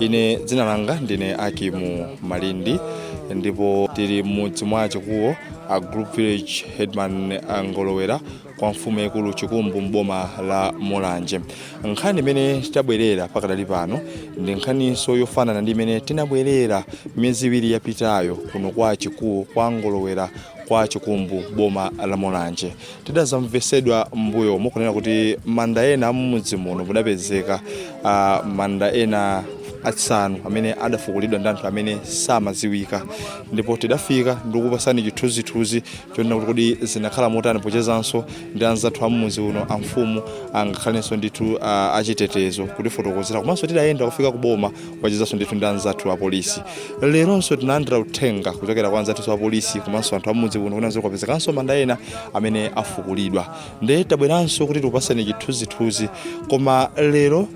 ine dzina langa ndine Akimu Malindi ndipo tili m'mudzi mwa chikuwo a group village headman angolowera kwa mfumu yaikulu chikumbu mboma la mulanje nkhani imene tabwerera pakadali pano ndi nkhaninso yofanana ndi imene tinabwerera miyezi iwiri yapitayo kuno kwa chikuwo kwa ngolowera kwa chikumbu mboma la mulanje tidazamvetsedwa m'mbuyomo kunena kuti manda ena amumudzi muno mudapezeka ah, manda ena asanu amene adafukulidwa ndi anthu amene samaziwika ndipo tidafika ndikupasani chithunzithunzi chonena kuti kodi zinakhala motani pochezanso ndi anzathu amumudzi uno amfumu angakhalenso ndithu ah, achitetezo kutifotokozera komanso tidayenda kufika kuboma kuchezanso ndithu ndi anzathu apolisi leronso tinalandira uthenga kuchokera kwa anzathu apolisi komanso anthu amudzi kuno kunenanso kwapezekanso manda ena amene afukulidwa nde tabweranso kuti tikupaseni chithunzithunzi koma lero uh,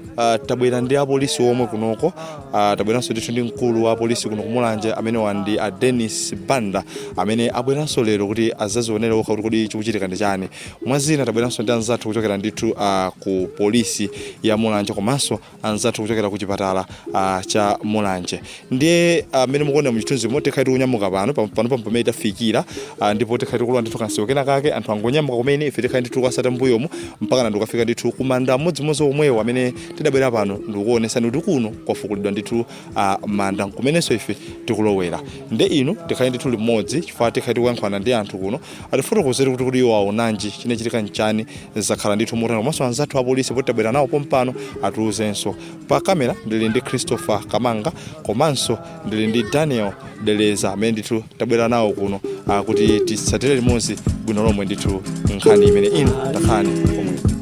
tabwera ndi apolisi omwe kunoko uh, tabweranso ndithu ndi mkulu wa apolisi kuno kumulanje amene ali ndi a denis banda amene abweranso lero kuti azazionere okha kuti kodi chikuchitika ndi chani mwazina tabweranso ndi anzathu kuchokera ndithu uh, ku polisi ya mulanje komanso anzathu kuchokera ku chipatala uh, cha Mulanje ndiye mmene uh, mukuona mchithunzi mo tikhala tikunyamuka pano pam- pano pam- pamene tafikira uh, ndipo tikhala tikulowa ndithu kanjira kena kake anthu angonyamuka kumene ife tikhala ndithu tikuwatsata mbuyomu mpakana tikafika ndithu kumanda amodzimodzi omwewo amene tidabwera pano ndikuonesani kuti kuno kwafukulidwa ndithu uh, manda nkumenenso ife tikulowera nde inu tikhale ndithu limodzi chifukwa tikhala tikuyankhulana ndi anthu kuno atifotokozere kuti kodi iwo aonanji chinachitika nchani zakhala ndithu motani komanso anzathu apolisi poti tabwera nawo pompano atiuzenso pa kamera ndili ndi christopher kamanga komanso ndili ndi daniel deleza amene ndithu tabwera nawo kuno ah, kuti titsatire limodzi bwino lomwe ndithu nkhani imene ino takhalani pomwe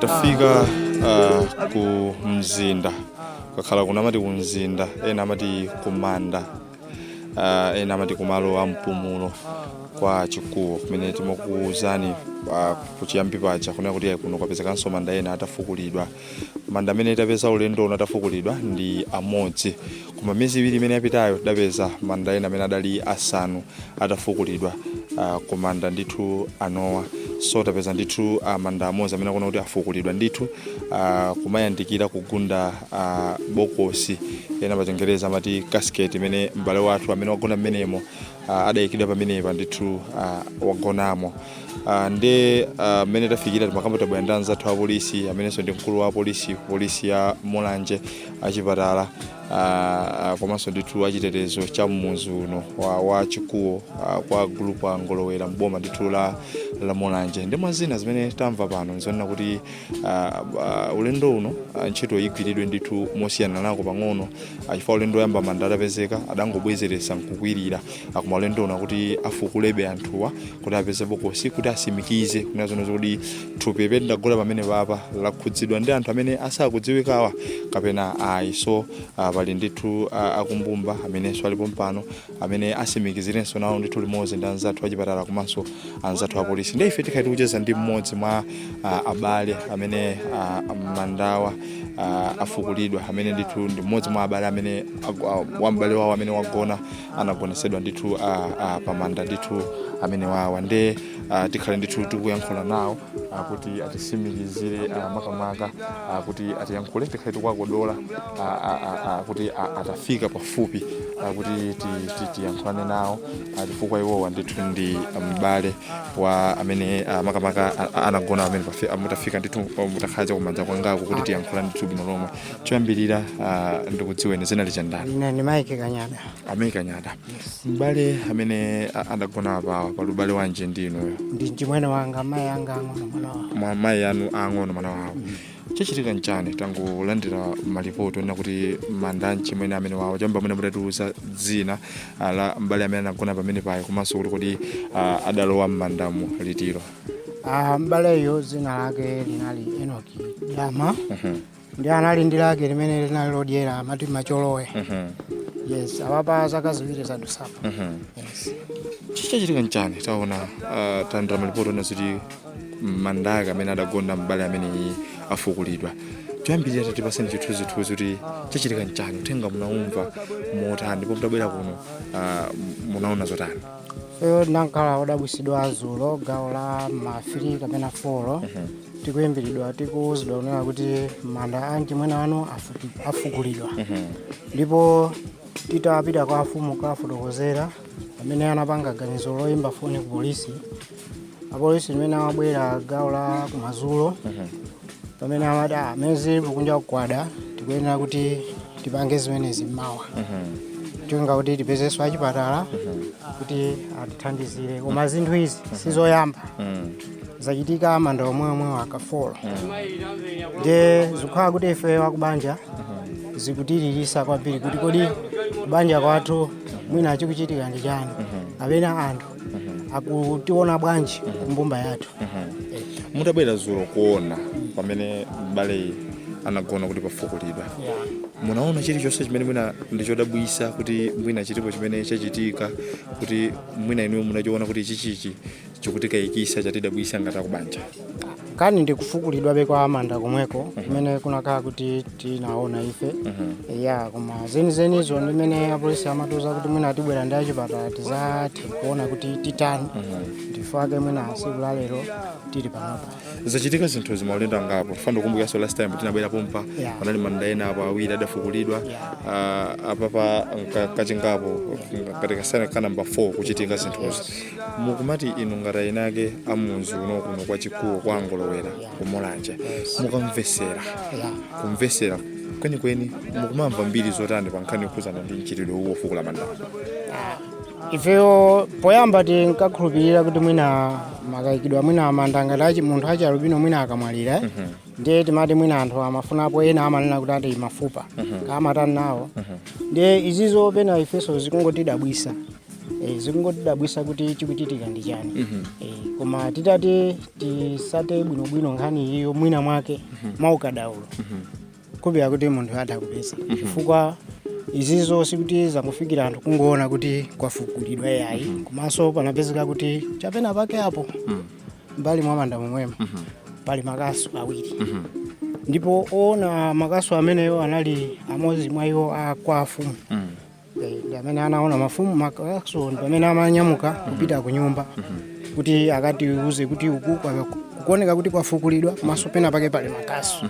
tafika uh, ku mzinda kukakhala kuno amati ku mzinda ena amati kumanda uh, ena amati kumalo a mpumulo kwa chikuwo kumene timakuwuzani uh, kuchiyambi paja kunena kuti ayi kuno kwapezekanso manda ena atafukulidwa manda amene tapeza ulendo uno atafukulidwa ndi amodzi Koma miyezi iwiri imene yapitayo tidapeza manda ena amene adali asanu atafukulidwa uh, kumanda ndithu anowanso tapeza ndithu uh, manda amodzi amene akuoneka kuti afukulidwa ndithu uh, kumayandikira kugunda uh, bokosi ena pachingereza amati casket imene m'bale wathu amene wagona mmenemo uh, adayikidwa pamenepa ndithu uh, wagonamo uh, nde uh, mmene tafikira timakamba tabwera ndi anzathu apolisi amenenso ndi mkulu wa apolisi polisi ya mulanje achipatala uh, komanso ndithu achitetezo cha mmudzi uno wa, wa chikuwo uh, kwa gulupu a ngolowera mboma ndithu la, la mulanje ndi mwa zina zimene tamva pano nzonena kuti uh, uh, ulendo uno uh, ntchito igwiridwe ndithu mosiyaniranako pang'ono uh, chifukwa ulendo woyamba manda adapezeka adangobwezeretsa nkukwirira akuma ulendo uno akuti afukulebe anthuwa kuti apeze bokosi kuti asimikize kunena zonezo kuti thupi pete ndagula pamene apapa lakhudzidwa ndi anthu amene sakudziwikawa kapena ayi so ah, pali ndithu ah, akumbumba amenenso alipo pompano amene asimikizirenso nawo ndithu limodzi ndi anzathu achipatala komanso anzathu apolisi ndi ife tikhala tikucheza ndi mmodzi mwa ah, abale amene ah, mandawa ah, afukulidwa amene ndithu ndi mmodzi mwa abale amene agu- ah, wa m'bale wawo amene wagona anagonesedwa ndithu uh, uh, pamanda ndithu amenewawa nde uh, tikhale ndithu tikuyankhula nawo uh, kuti atisimikizire uh, makamaka uh, kuti atiyankhule tikhale tikuwakodola uh, uh, uh, uh, kuti uh, atafika pafupi uh, kuti ti- ti- tiyankhulane nawo uh, chifukwa iwowa ndithu ndi m'bale wa amene uh, makamaka uh, anagona amene pafi- uh, mutafika ndithu uh, mutakhala chakumanja kwangaku kuti tiyankhulane ndithu bwino lomwe choyambirira ah, ndikudziweni dzina ndinu ndani ine ndi Mike Kanyada a Mike Kanyada m'bale amene a- adagona apawa pali ubale wanji ndi inuyo ndi mchimwene wanga mayi anga ang'ono mwana wawo mwana wa mayi anu ang'ono mwana wawo chachitika nchani tangolandira malipoti onena kuti manda a mchimwene amenewawo choyamba mutatiuza dzina ah, la m'bale amene anagona pamenepayo komanso kuti kodi ah, adalowa m'mandamo litilo Ah, m'baleyo dzina lake linali enoki dama nde anali ndi lake limene linali lodyera amati macholowe yes apapa zaka ziwiri zadusapa yes chachitika nchani taona ah, talandira malipoti onena kuti manda amene adagona m'bale ameneyu afukulidwa choyambirira tatipaseni chithunzithunzi kuti chachitika nchani uthenga munaumva motani ndipo mutabwera kuno ah, munaona zotani Iyo tinakhala odabwisidwa azulo gawo la ma 3 kapena 4 tikuyimbiridwa tikuwuzidwa kunena kuti manda a mchimwene wanu afuku- afukulidwa ndipo titapita kwa afumu kukafotokozera amene anapanga ganizo loyimba foni ku polisi apolisi mmene amabwera gawo la kumadzulo pamene amati "Ah, mmene zili kunja kukuda tikuyenera kuti tipange zimenezi mmawa cholinga kuti tipezenso achipatala kuti atithandizire koma zinthu izi sizoyamba zachitika manda omweomwewo kafolo nde zikukhala kuti ife akubanja zikutilirisa kwambiri kuti kodi kubanja kwathu mwina chikuchitika ndi chani amene anthu akutiona bwanji mbumba yathu Eh, mudabwera zulo kuona pamene mbaleyi anagona kuti pafukulidwa yeah. munaona chilichonse chimene mwina ndichodabwisa kuti mwina chilipo chimene chachitika kuti mwina inuyo munachiona kuti ichichichi chikutikayikisa chatidabwisa ngati akubanja kani ndikufukulidwabe kwa manda komweko kumene kunakhala kuti tinaona ife ya koma zenizenizo ndimene apolisi amatiuza kuti mwina tibwera ndi achipatala tizathe kuona kuti titani ndifake mwina siku la lero tili panopa zachitika zinthu zimaulendo angapo tikufuna kukumbukanso last time tinabwera pompa Yeah. panali manda ena apo awiri adafukulidwa Ah, apapa nka- kachingapo katika sana ka namba 4 kuchitika zinthuzi mukumati inu ngati eni ake a munzi uno kuno kwa Chikhuwo kwa Ngolowera ku Mulanje mukamvesera kumvesera kwenikweni mukumamva mbiri zotani pa nkhani yokhuzana ndi mchitidwe uwu ofukula mandawa ifeyo poyamba tinkakhulupirira kuti mwina makayikidwa mwina amanda ngati munthu wachi alubino mwina akamwalira eh? ndiye timati mwina anthu amafunapo ena amanena kuti ati mafupa akamatani nawo ndiye izizo pena ifeso zikungotidabwisa Eh, zikungotidabwisa kuti chikuchitika ndi chani Mhm. Eh, koma titati tisake bwinobwino nkhani iyiyo mwina mwake mwaukadaulo kupita kuti munthuyo atha kupeza chifukwa izizo sikuti zangofikira anthu kungoona kuti kwafukulidwa yayi komanso panapezeka kuti chapena pake apo mbali mwa manda momwemo pali makasu awiri ndipo owona makasu ameneyo anali amodzi mwa iwo kwa afumu ndi amene anaona mfumu makasuwo ndi pamene amanyamuka kupita ku nyumba kuti akatiuze kuti uku kwa- kukuoneka kuti kwafukulidwa komaso pena pake pali makasu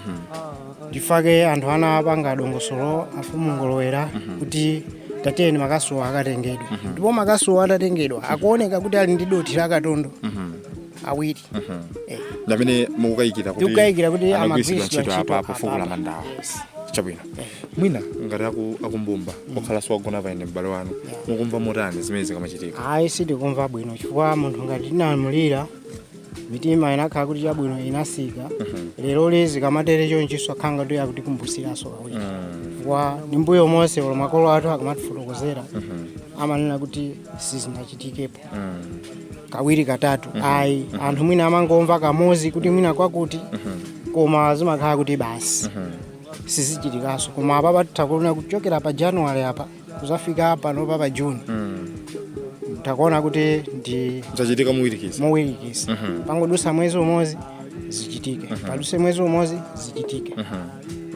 ndifake anthu anapanga dongosolo afumu Ngolowera kuti tatiyeni makasuwo akatengedwa ndipo makasuwo atatengedwa akuoneka kuti ali ndi dothi la katondo awiri Eh, ndi amene mukukayikira kuti Tikukayikira kuti anagwiritsidwa amagwiritsidwa ntchito apa ntchito pofukula apa. mandawa Yes. chabwino mwina ngati aku- akumbumba okhala kuti wagona pano ndi m'bale wanu mukumva motani zimenezi zikamachitika ayi sitikumva bwino chifukwa munthu ngati tinamulira mitima inakhala kuti chabwino inatsika leroli zikamatere chonchiso akhala kuti akutikumbusiraso kawiri chifukwa m'mbuyo monse olo makolo athu akamatifotokozera amanena kuti sizinachitikepo kawiri katatu ayi anthu mwina amangomva kamozi kuti mwina kwakuti koma zimakhala kuti basi sizichitikaso koma apapa tikuona kuchokera pa january apa kuzafika pano pa pa june tikuona kuti zachitika mowirikiza mowirikiza pangodutsa mwezi umodzi zichitike padutse mwezi umodzi zichitike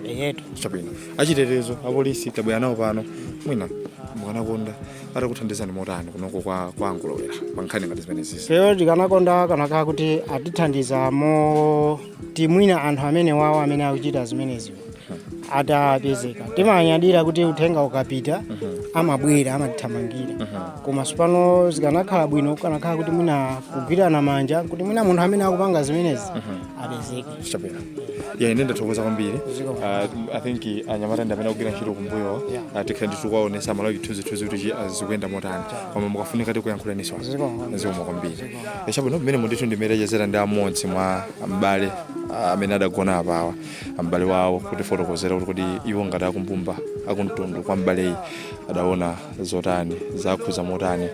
eyetu chabwino achitetezo apolisi tabwera nawo pano mwina mukanakonda atakuthandizani motani kunoko kwa kwa a Ngolowera pa nkhani ngati zimenezi feyo tikanakonda kunakakhala kuti atithandiza moti mwina anthu amenewawo amene akuchita zimenezi atapezeka timanyadira kuti uthenga ukapita amabwera amatithamangira koma sopano zikanakhala bwino kukanakhala kuti mwina kugwirana manja kuti mwina munthu amene akupanga zimenezi apezeke chabwera yeah, ine ndathokoza kwambiri uh, i think anyamata ndi amene akugwira ntchito kumbuyo uh, tikhala ndithu kwaonesa malawi chithunzithunzi kuti chi- zikuyenda motani koma mukafunika tikuyankhulaniso zikomo kwambiri Eh, chabwino pamene mundithu ndimachezera ndi amodzi mwa m'bale uh, amene adagona apawa m'bale wawo kutifotokozera kuti kodi iwo ngati akumbumba akumtundu kwa m'baleyi adaona zotani zakhuza motani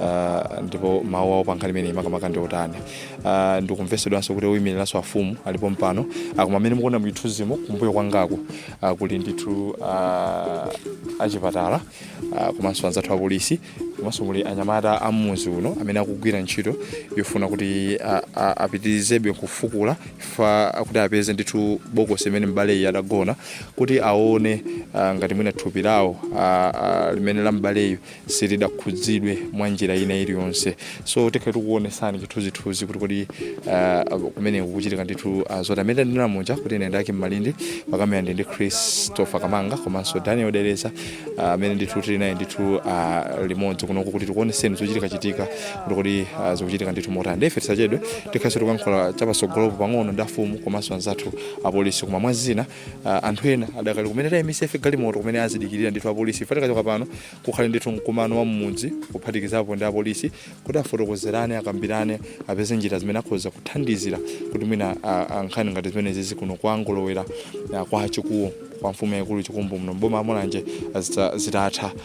uh, ndipo mawu awo pa nkhani imeneyi makamaka ndi otani ah, ndikumvetsedwanso kuti oyimiriranso amfumu alipo pompano Ah, koma mmene mukuona muchithunzimo kumbuyo kwangaku ah, kuli ndithu ah, achipatala ah, komanso anzathu apolisi komanso muli anyamata a mmudzi uno amene akugwira ntchito yofuna kuti ah, ah, apitirizebe kufukula fa kuti apeze ndithu bokosi mmene mbaleyi adagona kuti aone ah, ngati mwina thupi lawo ah, ah, limene la mbaleyu silidakhudzidwe mwa njira ina iliyonse so tikhala tikuonesani chithunzithunzi kuti kodi uh, kumene kukuchitika ndithu uh, zoti mmene ndinanena muja kuti ine ndake malindi pakamera ndi ndi christopher kamanga komanso daniel dereza uh, amene ndithu tili naye ndithu uh, limodzi kunoko kuti tikuoneseni zochitika chitika kuti kodi uh, zikuchitika ndithu motani ndiye tisachedwe tikhalenso tikuyankhula chapatsogolopo pang'ono ndi amfumu komanso anzathu apolisi koma mwa zina ah, anthu ena adakali kumene tayimitsa ife galimoto kumene akudikirira ndithu apolisi ife tikachoka pano kukhale ndithu mkumano wa mmudzi kuphatikizapo ndi apolisi kuti afotokozerane akambirane apeze njira zimene akhoza kuthandizira kuti mwina ah, ah, nkhani ngati zimenezizi kuno kwa Ngolowera ah, kwa chikuwo kwa mfumu yaikulu chikumbu muno mboma la mulanje zitatha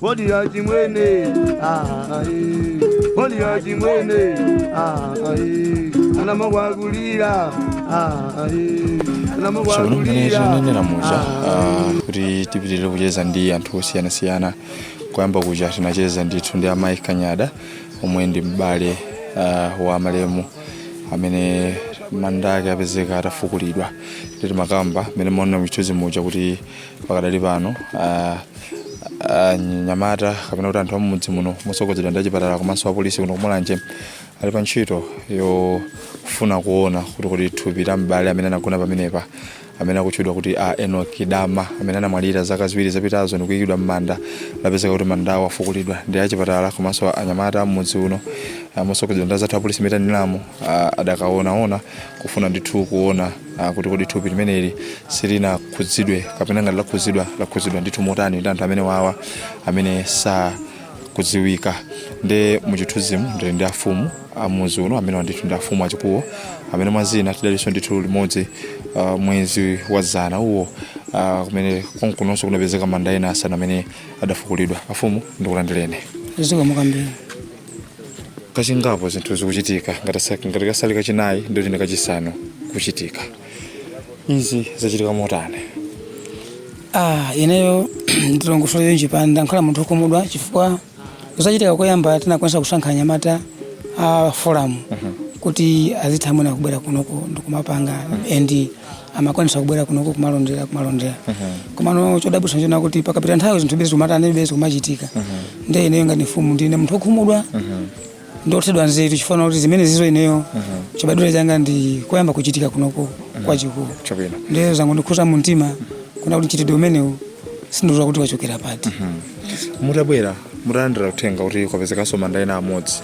Body ya chimwene ah eh Body ya chimwene ah eh Ana mawagulira ah eh Ana so mangene mawagulira ndinanenera muja ah, kuti tipitire kucheza ndi anthu osiyanasiyana kuyamba kuja tinacheza ndithu ndi amayi kanyada omwe ndi m'bale ah, wa malemu amene manda ake apezeka atafukulidwa tikamakamba mmene mumaona muchithunzi muja kuti pakadali pano ah, anyamata kapena kuti anthu amumudzi muno motsogozedwa ndi achipatala komanso apolisi kuno kumulanje ali pa ntchito yofuna kuona kuti kodi thupi la m'bale amene anagona pamenepa amene akutchedwa kuti a Enoki Dama amene anamwalira zaka ziwiri zapitazo ndi kuyikidwa m'manda apezeka kuti manda awo afukulidwa ndi achipatala komanso anyamata am'mudzi uno ah, motsogozedwa ndi azathu apolisi m'mene tanenamo ah, adakaonaona kufuna ndithu kuona ah, kuti kodi thupi limeneli silinakhudzidwe kapena ngati lakhudzidwa lakhudzidwa ndithu motani ndi anthu amenewawa amene sa kudziwika ndi muchithunzimu ndili ndi afumu am'mudzi uno amene ndithu ndi afumu a Chikuwo amene mwazina tidalinso ndithu limodzi uh, mwezi wa dzana uwo uh, kumene konkunonso kunapezeka manda ena asanu amene adafukulidwa afumu ndikulandirene zikumveka mbiri kachingapo zinthu zikuchitika ngati sa- ngati kasali kachinayi ndiye kuti ndi kachisanu kuchitika izi zachitika motani ah ineyo ndilongosole chonchi pano ndakhala munthu okhumudwa chifukwa zachitika koyamba tinakwanitsa kusankha anyamata a forum kuti azitha mwina kubwera kunoko ndikumapanga and amakwanitsa kubwera kunoko kumalondera kumalondera komano chodabwitsa chonena kuti pakapita nthawi zinthu bezi kumatani bezi kumachitika nde ineyo ngati mfumu ndine munthu okhumudwa ndi othedwa nzeru chifukwa kuti zimenezizo ineyo chibadwire changa ndi koyamba kuchitika kunoko kwa Chikuwo Chabwino. ndiye zangondikhuza mu mtima kunena kuti mchitidwe umenewu sindidziwa kuti wachokera pati mutabwera mutalandira uthenga kuti kwapezekanso manda ena amodzi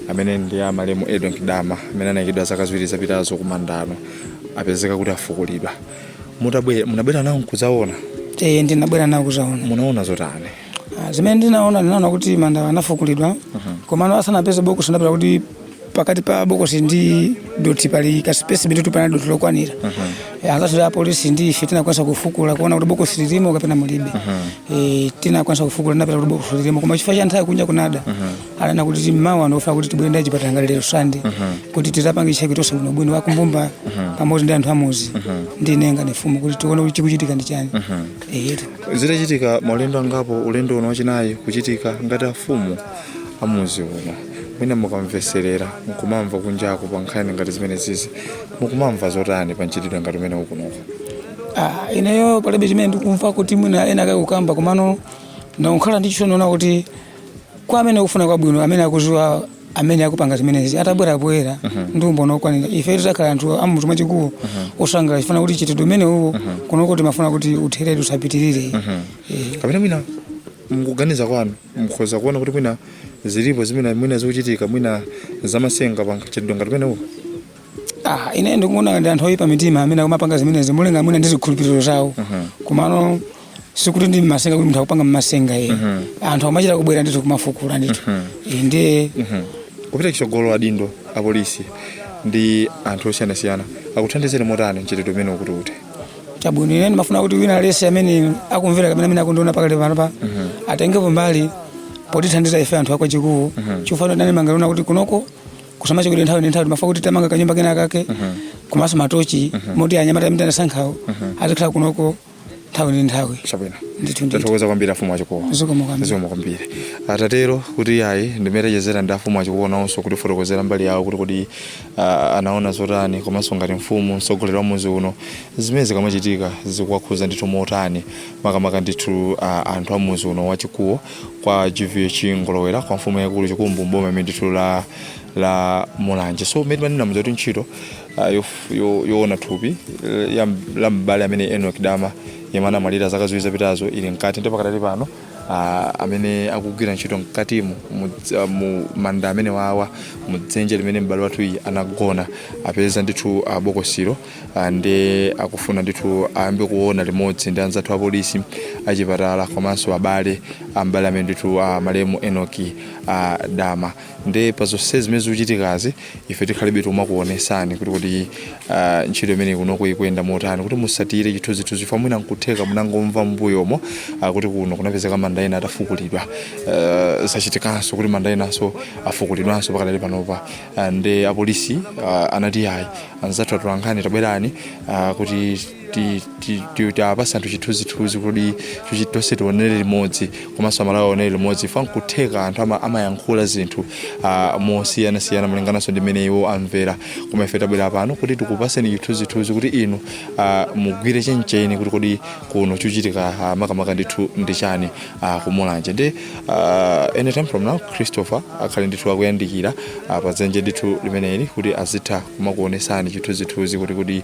amene ndi a malemu Enoki Dama amene anayikidwa zaka ziwiri zapitazo kumanda kuno apezeka kuti afukulidwa Mutabwe- munabwera nawo nkudzaona Eh, ndinabwera nawo kudzaona munaona zotani Ah, zimene ndinaona ndinaona kuti mandawa anafukulidwa mhm. komano asanapeze bokosi tinapeza kuti pakati pa bokosi ndi dothi pali kasipesi ndithu panalibe dothi lokwanira mhm. eh, anzathu a polisi ndi ife tinakwanitsa kufukula kuona kuti bokosi lilimo kapena mulibe mhm. eh, tinakwanitsa kufukula tinapeza kuti bokosi lilimo koma chifukwa cha nthawi kunja kunada ananena kuti mawa akufuna kuti tibwere ndi achipatala ngati lero Sunday kuti tidzapange check tonse bwinobwino akumbumba pamodzi ndi anthu am'mudzi ndi ine ngati mfumu kuti tione kuti chikuchitika ndi chani zitachitika maulendo angapo ulendo uno wachinayi kuchitika ngati afumu am'mudzi uno mwina mukamvetserera mukumamva kunjako pa nkhani ngati zimenezizi mukumamva zotani pa mchitidwe ngati umenewu kunoko Ah, ineyo palibe chimene ndikumva kuti mwina ena ake akukamba komano ndikukhala ndi chisoni chonena kuti kwa amene akufuna kwabwino amene akudziwa amene akupanga zimenezi atabwera poyera ndi umboni okwanira ife titakhala anthu am'mudzi mwa Chikuwo osangala chifukwa kuti mchitidwe umenewu kunoko timafuna kuti utherere usapitirire Eh. kapena mwina m'kuganiza kwanu mukhoza kuona kuti mwina zilipo zimene mwina zikuchitika mwina zamatsenga pa mchitidwe ngati umenewu Ah, ine ndikuona ndi anthu oyipa mitima amene akumapanga zimenezi molingana mwina ndi zikhulupiriro zawo komano sikuti ndi mmasenga kuti munthu akupanga mmasenga ye anthu amachita kubwera ndithu kumafukula ndithu Eh, ndiye kupita chitsogolo adindo apolisi ndi anthu osiyanasiyana akuthandizeni motani mchitidwe umene ukuti ute chabwino ine ndimafuna kuti wina aliyense amene akumvera kapena amene akundiona pakali pano pa atengepo mbali potithandiza ife anthu akwa chikuwa chifukwa ndani ma alonda kuti kunoko kusamacho kuti nthawi ndi nthawi timafuna kuti tamanga kanyumba kena kake komanso matochi oti anyamata amene anasankhawo azikhala kunoko nthawi ndi nthawi chabwino ndithu ndithu tathokoza kwambiri afumu achikowa Zikomo kwambiri. zikomo kwambiri atatero kuti ayi ndimachezera ndi afumu achikowa nawonso kutifotokozera mbali yawo kuti kodi ah, anaona zotani komanso ngati mfumu mtsogoleri wa muzi uno zimene zikamachitika zikuwakhuza ndithu motani makamaka ndithu ah, anthu a muzi uno wachikuwa kwa gvh ngolowera kwa mfumu yaikulu chikumbu mboma imene ndithu la la mulanje so mmene manena muja kuti ntchito ah, yoona thupi eh, la m'bale ameneyu Enoch Dama yemwe anamwalira zaka ziwiri zapitazo ili mkati ndipo pakadali pano ah, amene akugwira ntchito mkatimu ah, mu manda amenewawa mu dzenje limene m'bale wathuyi anagona apeza ndithu ah, bokosilo ndi akufuna ndithu ayambe kuona limodzi ndi anzathu apolisi achipatala komanso abale a m'bale ameneyu ndithu malemu Enoki Dama ndi pa zonse zimene zikuchitikazi ife tikhalebe tikumakuonesani kuti kuti ah, ntchito imeneyi kunoko ikuyenda motani kuti musatire chithunzithunzi chifukwa mwina nkutheka munangomva mbuyomu ah, kuti kuno kunapezeka manda ena atafukulidwa Ah, zachitikanso kuti manda enanso afukulidwanso pakadali panopa Ah, nde apolisi ah, anati ayi anzathu atolankhani tabwerani ah, kuti tiwapase anthu chithunzithunzi kuti tonse tionere limodzi komanso amalawi aonere limodzi fa nkutheka anthu amayankhula zinthu mosiyanasiyana malingananso ndi mmene iwo amvera koma ife tabwera pano kuti tikupaseni chithunzithunzi kuti inu mugwire chencheni kuti kodi kuno chochitika makamaka ndithu ndi chani kumulanje ndi anytime from now christopher akhale ndithu akuyandikira pa dzenje ndithu limeneli kuti azitha kumakuonesani chithunzithunzi kuti kodi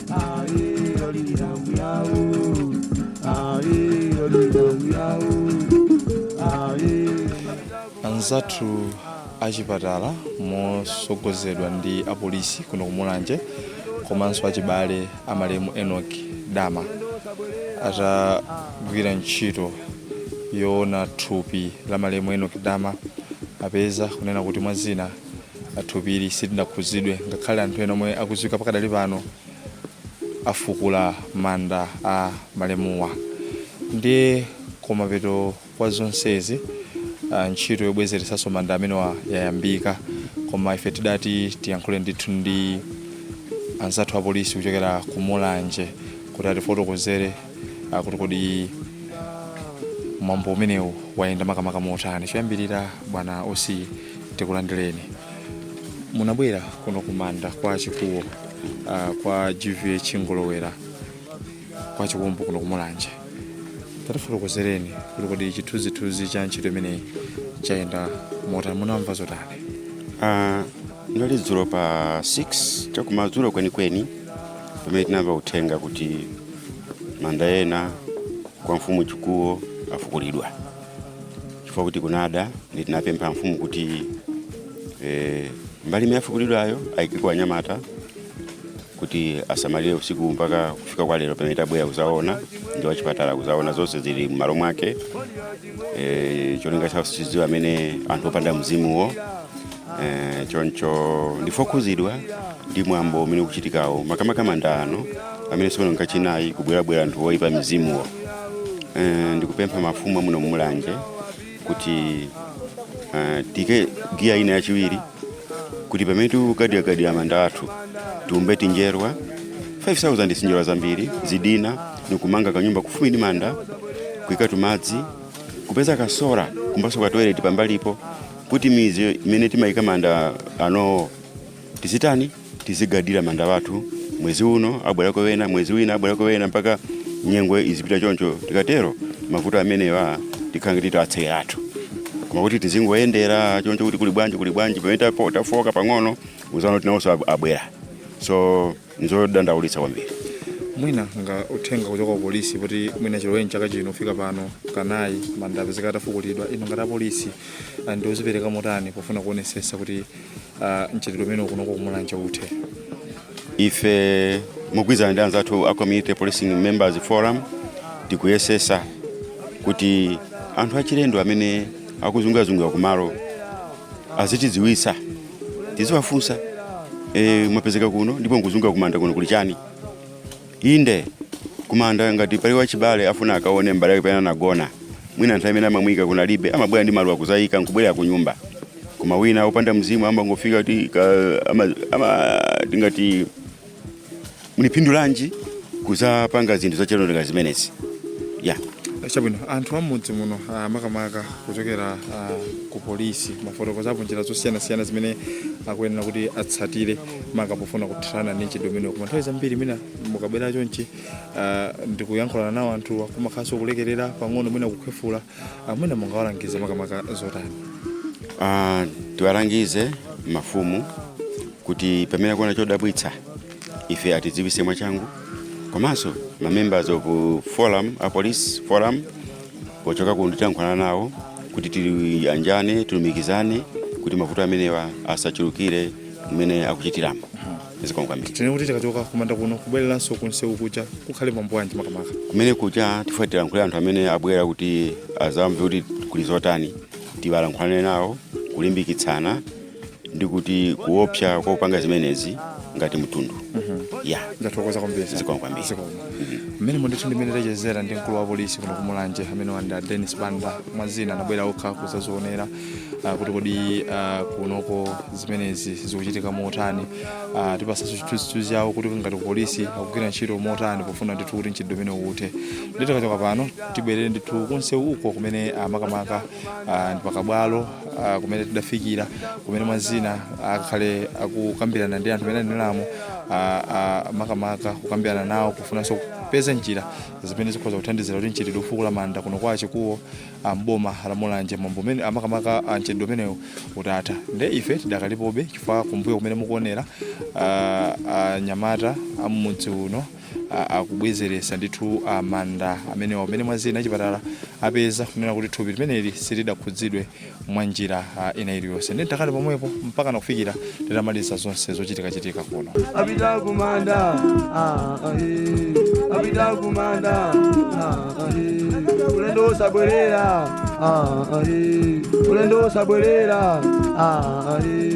anzathu achipatala mosogozedwa ndi apolisi kuno kumulanje komanso achibale amalemu enok dama atagwira ntchito yoona thupi la malemu enok dama apeza kunena kuti mwa zina Thupili silinakhudzidwe ngakhale anthu ena omwe akudziwika pakadali pano afukula manda a malemuwa. Ndiye kumapeto kwa zonsezi ah, ntchito yobwezeretsanso manda amenewa yayambika koma ife tidati tiyankhule ndithu ndi anzathu apolisi kuchokera ku Mulanje kuti atifotokozere ah, kuti kodi mwambo umenewu wayenda makamaka motani choyambirira bwana osi tikulandireni munabwera kuno kumanda kwa chikuwo uh, kwa gvh ngolowera kwa chikumbu kuno kumulanje tatifotokozereni kuti kodi chithunzithunzi cha ntchito imeneyi chayenda motani munamva zotani Ah, ndali dzulo pa 6 chakumadzulo kwenikweni pamene tinamva uthenga kuti manda ena kwa mfumu chikuwo afukulidwa chifukwa kuti kunada ndiye tinapempha mfumu kuti eh, mbali imene yafukulidwayo ayikeko anyamata kuti asamalire usiku mpaka kufika kwa lero pamene tabwera kuzaona ndi wachipatala kuzaona zonse zili m'malo mwake eh, cholinga chawo sitidziwa amene anthu opanda mzimuwo Eh, choncho ndife okhuzidwa ndi mwambo umene ukuchitikawo makamaka manda ano amene tsono nkachinayi kubwerabwera anthu oyipa mizimuwo Eh, ndikupempha mafumu amuno mumulanje kuti eh, tiike giya ina yachiwiri kuti pamene tikugadiragadira manda athu tiumbe tinjerwa 5000 sinjerwa zambiri zidinha nikumanga kanyumba kufupi ndi manda kuika timadzi kupeza kasola kumbaso katoilet pambalipo kuti midzi imene timayika manda anowo tizitani tizigadira manda wathu mwezi uno abwerako wena mwezi wina abwerako wena mpaka nyengo izipita choncho tikatero mavuto amenewa tikhala ngati tiwatseka athu koma kuti tizingoyendera choncho kuti kuli bwanji kuli bwanji pamene tapo- tafoka pang'ono muzaona tinawonso abweraso nzodandaulitsa kwambiri mwina nga uthenga kuchoka ku polisi kuti mwina chiloweni chaka chino kufika pano kanayi manda apezeka atafukulidwa ino ngati apolisi ah, ndi ozipereka motani pofuna kuonesesa kuti ah, mchitidwe umenewu kunoko kumulanje uthe ife mogwirizana ndi anzathu a community policing members forum tikuyesesa kuti anthu achilendo amene akuzungirazungira kumalo azitidziwitsa tiziwafunsa e, mwapezeka kuno ndipo nkuzunga kumanda kuno kuli chani inde kumanda ngati pali wachibale afuna akaone mbale wake pamene anagona mwina nthawi imene amamuyika kunalibe amabwera ndi maluwa kuzayika nkubwerera ku nyumba koma wina opanda mzimu amangofika ti ka- ama- ama- tingati mupindulanji kuzapanga zinthu zachilendo zimenezi ya chabwino anthu amudzi muno ah, makamaka kuchokera ah, ku polisi mwafotokozapo njira zosiyanasiyana zimene akuyenera kuti atsatire maka pofuna kuthana ndi mchitidwe umenewu koma nthawi zambiri mwina mukabwera chonchi ah, ndikuyankhulana nawo anthu akumakhalanso kulekerera pang'ono mwina kukhwefula ah, mwina mungawalangize makamaka zotani Ah, tiwalangize mafumu kuti pamene akuona chodabwitsa ife atidziwise mwachangu komanso ma members of forum a police forum pochoka kuno tilankhulana nawo kuti tiyanjane tilumikizane kuti mavuto amenewa asachulukire mmene akuchitiramo zikomo kwambiri tinene kuti tikachoka kumanda kuno kubwereranso kunsewu kuja kukhale mwambo wanji makamaka kumene kuja tifuna tilankhule anthu amene abwera kuti azamve kuti kuli zotani tilankhulane nawo kulimbikitsana ndi kuti kuopsa kwa kupanga zimenezi ngati mtundu ya ndathokoza kwambiri Zikomo kwambiri. Zikomo. mmenemo ndithu ndi mmene tachezera ndi mkulu wa polisi kuno kumulanje amene ndi a denis banda mwa zina anabwera okha kuzazionera ah, kuti kodi ah, kunoko zimenezi zikuchitika motani Ah, atipatsanso chithunzithunzi yawo kuti ngati polisi akugwira ntchito motani pofuna ndithu kuti mchitidwe umenewu uthe nde tikachoka pano tibwerere ndithu kunsewu ko kumene ah, makamaka ah, ndi pakabwalo ah, kumene tidafikira kumene mwa zina akhale akukambirana ndi anthu amene anabwerawo makamaka kukambirana nawo kufunanso kupeza njira zimene zikhoza kuthandizira kuti mchitidwe ofukula manda kuno kwa chikuwo ah, mboma la mulanje mwambo umene ah, makamaka ah, mchitidwe umenewu utatha nde ife tidakalipobe chifukwa kumbuyo kumene mukuonera ah, anyamata am'mudzi muno akubwezeretsa ndithu manda amenewa kumene mwa zina achipatala apeza kunena kuti thupi limeneli silidakhudzidwe mwa njira ina iliyonse nde tikhale pomwepo mpaka nakufikira titamaliza zonse zochitikachitika kuno apita kumanda ah, ah, eh. apita kumanda ah, ah, eh. ulendo usabwerera ah, ah, eh. ulendo usabwerera ah, ah, eh.